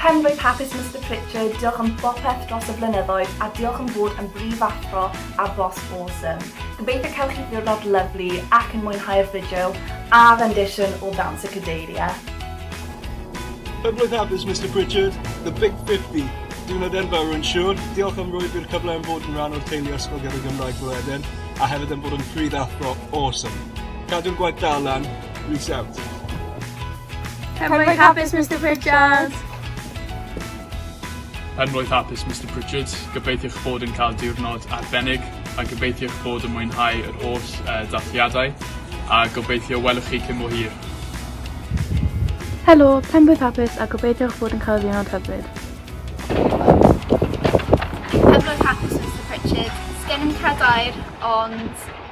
Penblwydd hapus Mister Pritchard, diolch am bopeth dros y blynyddoedd a diolch am fod yn brif athro a boss awesome. Gobeithio cael chi ddiwrnod lyfli ac yn mwynhau'r fideo a rendition o Ddawns y Cadeiria. Penblwydd hapus Mister Pritchard, the big 50. Diwrnod enfawr yn siŵr. Diolch am roi fi'r cyfle am fod yn rhan o'r teulu Ysgol Gyrru Gymraeg Bro Eden a hefyd am fod yn prif athro awesome. Cadw'r gwaith da lan. Reach out. Cymru hapus, Mr Pritchard! Yn roedd hapus, Mr Pritchard. Gobeithiwch bod yn cael diwrnod arbennig a gobeithiwch bod yn mwynhau yr holl uh, dathliadau a gobeithio welwch chi cyn mor hir. Helo, penblwydd hapus a gobeithiwch bod yn cael ddiwrnod hyfryd. Penblwydd hapus, Mr Pritchard. Sgen i'n cadair, ond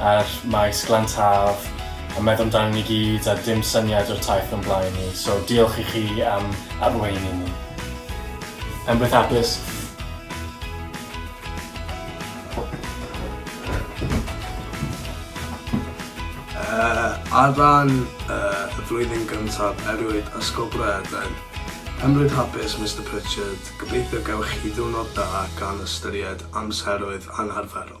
Ar Maes Glan Taf a meddwl amdanyn ni gyd a dim syniad o'r taith o'n blaen ni, so diolch i chi am arweini ni. Penbeth Abysg. Uh, ar ran uh, y flwyddyn gyntaf erwyd Ysgol Bryden, Penbeth Hapus Mr Pritchard, gobeithio gewch chi ddiwrnod da gan ystyried amseroedd anarferol.